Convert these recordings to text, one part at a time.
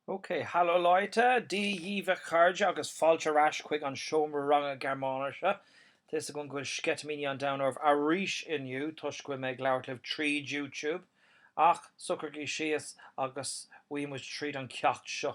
OK, hallo Leute, Dia dhíbh a chairde agus fáilte ar ais chuig an seomra ranga Gearmáinise. Tá fhios agam go bhfuil sceitimíní an domhain oraibh arís inniu toisc go bhfuil mé ag labhairt libh tríd YouTube, ach socraígí síos agus gabhfaidh muid tríd an ceacht seo.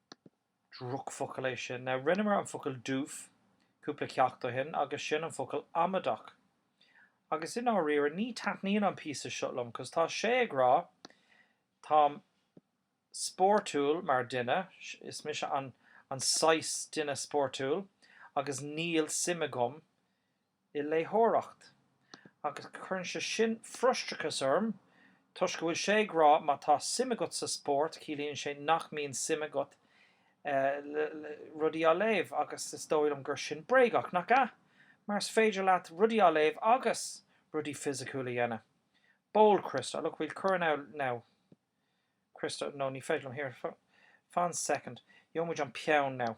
Drochfocal é sin. Now, rinneamar an focal doof cúpla ceacht ó shin agus sin an focal amaideach. Agus i ndáiríre, ní taitníonn an píosa seo liom cos tá sé ag rá táim spóirtiúil mar duine, is mise an saghas duine spóirtiúil agus níl suim agam i léitheoireacht, agus cuireann sé sin frustrachas orm toisc go bhfuil sé ag rá má tá suim agat sa spórt ciallaíonn sé nach mbíonn suim agat rudaí á léamh agus is dóigh liom gur sin bréagach, nach ea? Mar is féidir leat rudaí á léamh agus rudaí fisiciúil a dhéanamh. Bold Christa, look, we'll cuir in our, now. Christa, No, ní féidir liom, here, fan soicind, gheobhaidh muid an peann, now.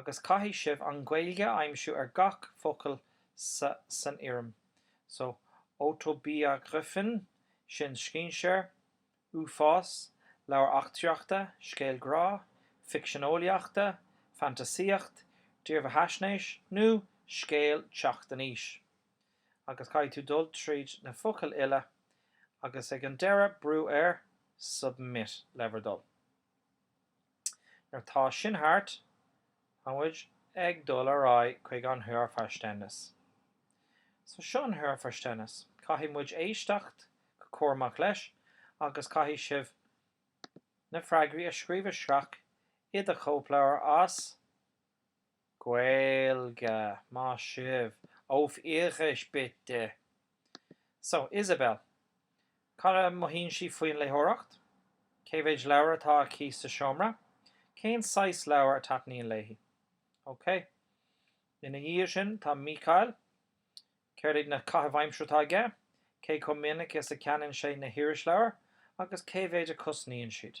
agus caithfidh sibh an Ghaeilge a aimsiú ar gach focal san fhoirm so, Autobiografien, sin scéinséir, uafás, leabhar eachtraíochta, scéal grá, ficsean eolaíochta, fantasaíocht, dírbheathaisnéis nó scéal teacht in aois. Agus caithfidh tú dul tríd na focail uile agus ag an deireadh brú ar, submit, le bhur dtoil. Nuair atá sin thart, tá muid ag dul ar aghaidh chuig an Hörverständnis. So, seo an Hörverständnis. Caithfidh muid éisteacht go cúramach leis agus caithfidh sibh na freagraí a scríobh isteach i do chóipleabhar as. Gaeilge, más é, auf Irisch bitte. So, Isabel, céard a mothaíonn sí faoin léitheoireacht? Cé mhéid leabhar atá aici sa seomra? Cén saghas leabhar a taitníonn léi? Ok. Ina dhiaidh sin, tá Michael. Céard iad na caithimh aimsire atá aige? Cé chomh minic is a cheannaíonn sé na hirisleabhair agus cé mhéid a cosnaíonn siad?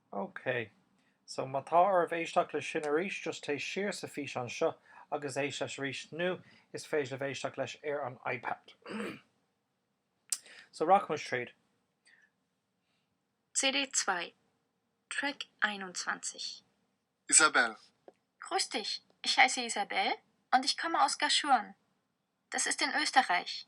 OK. So, má tá oraibh éisteacht leis sin arís, just téigh siar sa físeán seo agus éist leis arís, nó is féidir libh éisteacht leis ar an iPad. So, rachaidh muid tríd. CD 2, Track 21. Isabel. Grüß dich, ich heiße Isabel und ich komme aus Gaschurn. Das ist in Österreich.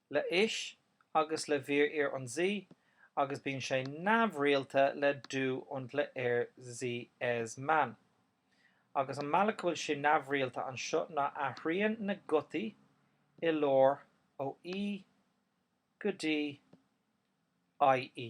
le ich agus le wir ihr und sie agus bíonn sé neamhrialta le du und le er sie es man. Agus an mbealach go bhfuil sé neamhrialta anseo ná athraíonn na gutaí i lár ó e go dtí ie.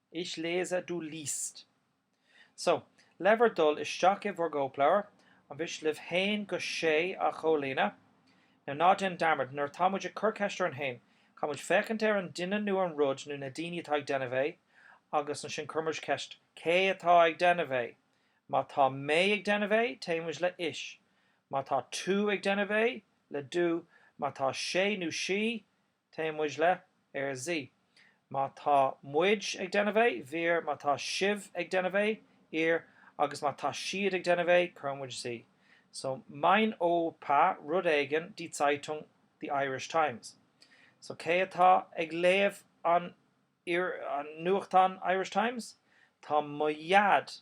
Ich lese, du liest. So, le bhur dtoil isteach i bhur gcóipleabhair, an mhiste libh haon go sé a chomhlíonadh? Now ná déan dearmad, nuair atá muid ag cur ceist orainn féin, caithfidh muid féachaint ar an duine nó an rud nó na daoine atá ag déanamh é, agus ansin cuireann muid ceist, cé atá ag déanamh é? Má tá mé ag déanamh é, téann muid le Ich. Má tá tú ag déanamh é, le du. Má tá sé nó sí, Téann muid le, er, sie. Má tá muid ag déanamh é, wir, má tá sibh ag déanamh é, ihr, agus má tá siad ag déanamh é, cuir muid sie. So, mein Opa rud éigin die Zeitung, The Irish Times. So cé atá ag léamh an nuachtán Irish Times? Tá mo dhaid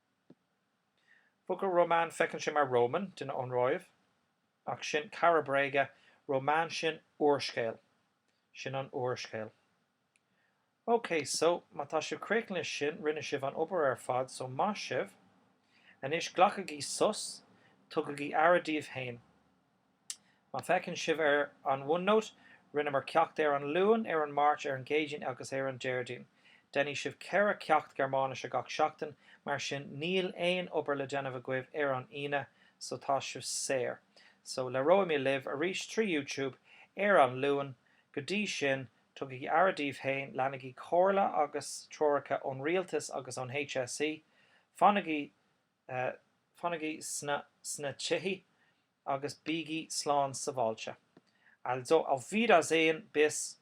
Focal Roman feiceann sé mar Roman, duine ón Róimh, ach sin cara bréige, Roman sin úrscéal. Sin an úrscéal. OK, so, má tá sibh críochnaithe leis sin, rinne sibh an obair ar fad, so maith sibh. Anois, glacaigí sos, tugaigí aire daoibh féin. Má fheiceann sibh ar an OneNote, rinneamar ceacht ar an Luan, ar an Máirt, ar an gCéadaoin agus ar an Déardaoin. Déanfaidh sibh ceithre cheacht Gearmáinise gach seachtain, mar sin níl aon obair le déanamh agaibh ar an Aoine, so tá sibh saor. So, labhróidh mé libh arís trí YouTube ar an Luan. Go dtí sin, tugaigí aire daoibh féin, leanaigí comhairle agus treoracha ón rialtas agus ón HSE, fanaigí Fanaigí sna tithe agus bígí slán sabháilte. Also, auf Wiedersehen, bis